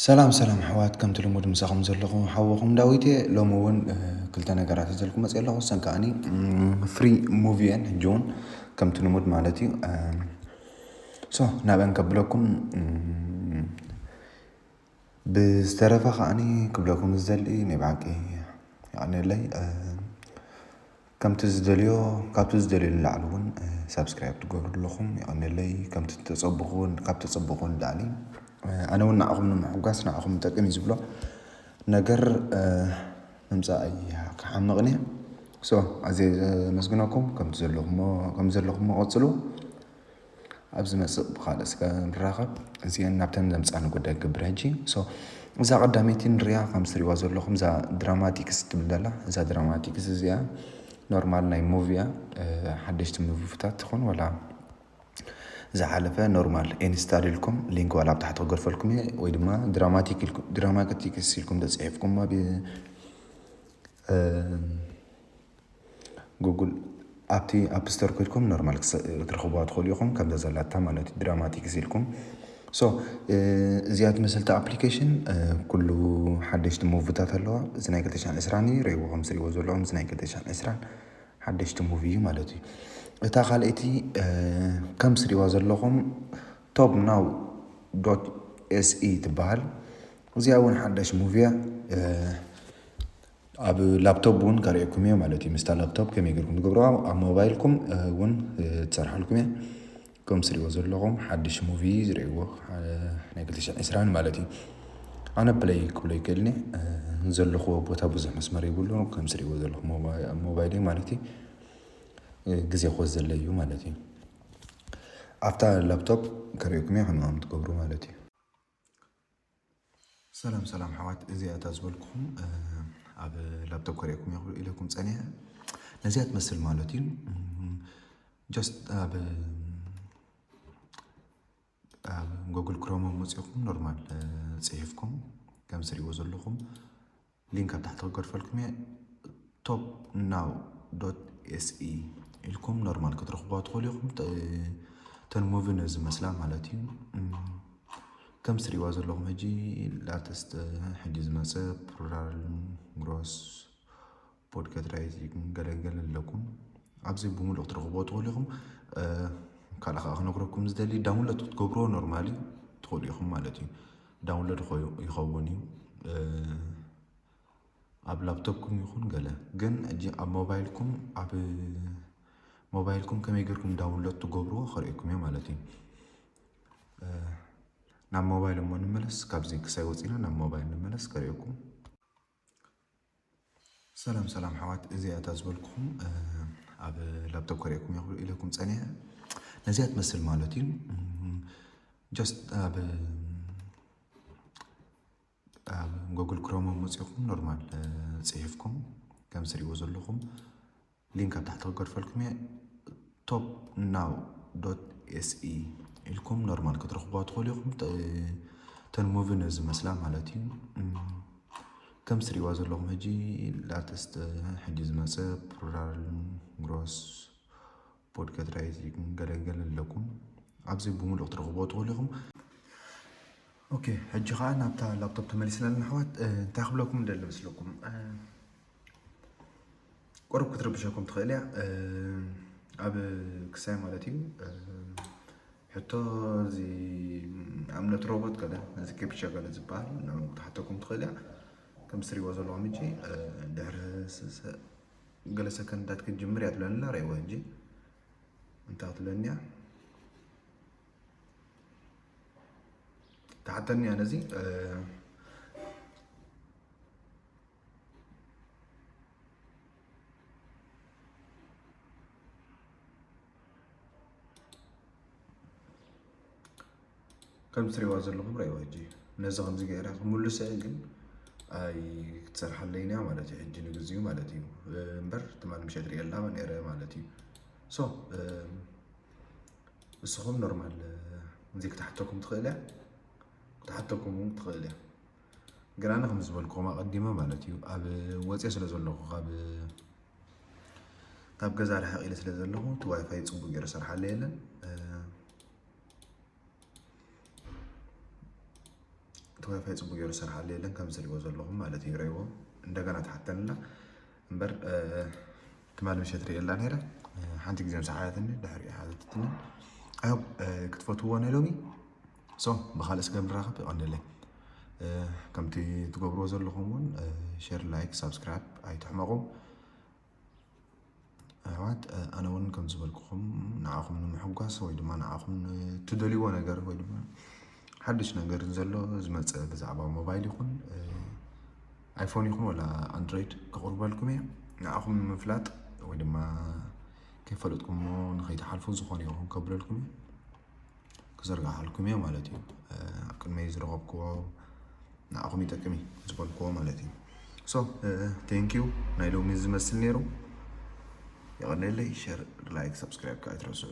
ሰላም ሰላም ኣሕዋት ከምቲ ልሙድ ምሳኹም ዘለኹ ሓወኹም ዳዊት እየ ሎሚ እውን ክልተ ነገራት ዘልኩ መፅ ኣለኹ ሰን ከዓኒ ፍሪ ሙቪ እየን ሕጂ እውን ከምቲ ልሙድ ማለት እዩ ሶ ናብአን ከብለኩም ብዝተረፈ ከዓኒ ክብለኩም ዝደሊ ናይ ብሓቂ የቀንየለይ ከምቲ ዝደልዮ ካብቲ ዝደልዮ ንላዕሊ እውን ሳብስክራይብ ትገብሩ ኣለኹም የቀንየለይ ከምቲ ተጸብኹ ካብ ተጸብኹ ንላዕሊ ኣነ እውን ንዓኹም ንምሕጓስ ንዓኹም ይጠቅም እዩ ዝብሎ ነገር ምምጻእ ክሓምቕን እየ ሶ ኣዝየ ዘመስግነኩም ከምቲ ዘለኹሞ ከምዘለኹሞ ቀጽሉ። ኣብ ዝመጽእ ብካልእ ስጋ ንራከብ እዚኤን ናብተን ዘምጻኒ ጉዳይ ክገብር ሕጂ so እዛ ቀዳመይቲ ንርያ ከምዚ ትሪእዋ ዘለኩም እዛ ድራማቲክስ ትብል ዘላ እዛ ድራማቲክስ እዚኣ ኖርማል ናይ ሙቪ እያ ሓደሽቲ ሙቪታት ትኹን ወላ ዝሓለፈ ኖርማል ኢንስታል ኢልኩም ሊንክ ዋላ ኣብ ታሕቲ ክገርፈልኩም እየ ወይ ድማ ድራማቲክ ኢልኩም ድራማቲክስ ኢልኩም ተጽሒፍኩማ ብ ጉጉል ኣብቲ ኣፕ ስቶር ኮይድኩም ኖርማል ክትረኽቡዋ ትኽእሉ ኢኹም ከምዛ ዘላታ ማለት እዩ ድራማቲክስ ኢልኩም ሶ እዚኣ ትመስልቲ ኣፕሊኬሽን ኩሉ ሓደሽቲ ሙቭታት ኣለዋ እዚ ናይ 220 እዩ ረይዎ ከም ዝሪእዎ ዘለኹም እዚ ናይ 220 ሓደሽቲ ሙቭ እዩ ማለት እዩ እታ ካልኣይቲ ከም ስሪዋ ዘለኹም ቶብ ናው ዶት ኤስኢ ትበሃል እዚኣ እውን ሓዳሽ ሙቭያ ኣብ ላፕቶፕ እውን ከርእየኩም እየ ማለት እዩ ምስታ ላፕቶፕ ከመይ ጌርኩም ትገብርዋ ኣብ ሞባይልኩም እውን ትሰርሓልኩም እየ ከም ስሪዎ ዘለኹም ሓድሽ ሙቪ ዝርእዎ ናይ ክልተ ሽሕ ዕስራን ማለት እዩ ኣነ ፕለይ ክብሎ ይክእልኒ ዘለኹዎ ቦታ ብዙሕ መስመር ይብሉ ከም ስሪዎ ዘለኹ ሞባይል ማለት እዩ ግዜ ኮዝ ዘለዩ ማለት እዩ ኣብታ ላፕቶፕ ከርእየኩም እየ ከምዚ ከም ትገብሩ ማለት እዩ። ሰላም ሰላም ኣሕዋት፣ እዚኣ እታ ዝበልኩኹም ኣብ ላፕቶፕ ከርእየኩም እየ ክብል ኢለኩም ፀኒሐ ነዚኣ ትመስል ማለት እዩ ጀስት ኣብ ኣብ ጎግል ክሮም መፂኹም ኖርማል ፅሒፍኩም ከም ዝሪእዎ ዘለኹም ሊንክ ኣብ ታሕቲ ክገድፈልኩም እየ ቶፕ ናው ዶት ኤስኢ ኢልኩም ኖርማል ክትረኽቡዋ ትኽእሉ ኢኹም ተን ሙቪ ነው ዝመስላ ማለት እዩ ከም ስሪዋ ዘለኹም ሕጂ ላተስተ ሕጂ ዝመፀ ፕሉራል ግሮስ ፖድካት ራይት ገለገለ ኣለኩም ኣብዚ ብምሉእ ክትረኽቦ ትኽእሉ ኢኹም ካልእ ከዓ ክነግረኩም ዝደሊ ዳውንሎድ ክትገብሮ ኖርማሊ ትኽእሉ ኢኹም ማለት እዩ ዳውንሎድ ይኸውን እዩ ኣብ ላፕቶፕኩም ይኹን ገለ ግን እጂ ኣብ ሞባይልኩም ኣብ ሞባይልኩም ከመይ ገርኩም ዳውንሎድ ትገብርዎ ክርእኩም እዮ ማለት እዩ ናብ ሞባይል እሞ ንመለስ ካብዚ ክሳይ ወፂና ናብ ሞባይል ንመለስ ከርእኩም ሰላም ሰላም ኣሕዋት፣ እዚኣ እታ ዝበልኩኹም ኣብ ላፕቶፕ ከርእየኩም እየ ክብል ኢለኩም ፀኒሐ ነዚኣ ትመስል ማለት እዩ ጀስት ኣብ ኣብ ጎግል ክሮም መፂኹም ኖርማል ፅሒፍኩም ከም ዝሪእዎ ዘለኹም ሊንክ ኣብ ታሕቲ ክገድፈልኩም እየ ቶፕ ናው ዶት ኤስኢ ኢልኩም ኖርማል ክትረኽቡዋ ትኽእሉ ኢኹም ተን ሙቪ ነው ዝመስላ ማለት እዩ ከም ስሪዋ ዘለኹም ሕጂ ላተስተ ሕጂ ዝመፀ ፕሉራል ግሮስ ፖድካት ራይት ገለገለ ኣለኩም ኣብዚ ብምሉእ ክትረኽቡዎ ትኽእሉ ኢኹም ኦኬ ሕጂ ከዓ ናብታ ላፕቶፕ ተመሊስና ኣለና ኣሕዋት እንታይ ክብለኩም ደሊ መስለኩም ቁሩብ ክትርብሸኩም ትኽእል እያ ኣብ ክሳይ ማለት እዩ ሕቶ እዚ እምነት ሮቦት ገለ እዚ ኬፕቻ ገለ ዝበሃል ንዑ ክትሓተኩም ትኽእል እያ ከም ትሪእዎ ዘለኹም እጂ ድሕሪ ገለ ሰከንዳት ክትጅምር እያ ትብለኒ ኣላ ርእይዎ እጂ እንታይ ትብለኒ እያ ትሓተኒ እያ ነዚ ከም ትሪእዋ ዘለኹም ረእይዋ ሕጂ ነዚ ከምዚ ገይረ ክምልሰ ግን ኣይ ክትሰርሓለይን እያ ማለት እዩ ሕጂ ንግዚኡ ማለት እዩ እምበር ትማል ምሸት ርእየላ ነረ ማለት እዩ ሶ ንስኹም ኖርማል እዚ ክትሓተኩም ትኽእል እያ ክትሓተኩም እውን ትኽእል እያ ግን ኣነ ከም ዝበልክኹም ኣቐዲመ ማለት እዩ ኣብ ወፅየ ስለ ዘለኹ ካብ ገዛ ርሕቕ ኢለ ስለ ዘለኹ እቲ ዋይፋይ ፅቡቅ ገይሩ ሰርሓለ የለን እቲ ዋይፋይ ፅቡቅ ገይሩ ሰርሓለ የለን ከም ዝሪእዎ ዘለኹም ማለት እዩ ረይዎ እንደገና ትሓተንላ እምበር ትማሊ ምሸት ርእየላ ነይረ ሓንቲ ግዜ ምስ ሓያትኒ ድሕሪ ሓዘትትኒ ክትፈትዎ ናይ ሎሚ ሶ ብካልእ ስከ ንራከብ የቀንየለይ ከምቲ ትገብርዎ ዘለኹም እውን ሸር ላይክ ሳብስክራይብ ኣይትሕመቑ ኣሕዋት ኣነ እውን ከም ዝበልኩኹም ንዓኹም ንምሕጓስ ወይ ድማ ንዓኹም ትደልይዎ ነገር ወይ ድማ ሓድሽ ነገር ዘሎ ዝመፀ ብዛዕባ ሞባይል ይኹን ኣይፎን ይኹን ወላ ኣንድሮይድ ክቕርበልኩም እየ ንዓኹም ንምፍላጥ ወይ ድማ ከይፈለጥኩሞ ንከይትሓልፉ ዝኾነ ይኹን ከብለልኩም እዩ ክዝርግሓልኩም እየ ማለት እዩ ኣብ ቅድመይ ዝረኸብክዎ ንኣኹም ይጠቅም እዩ ዝበልክዎ ማለት እዩ ሶ ቴንኪዩ ናይ ሎሚ ዝመስል ነይሩ የቐነለይ ሸር ላይክ ሰብስክራይብ ከዓ ኣይትረስዑ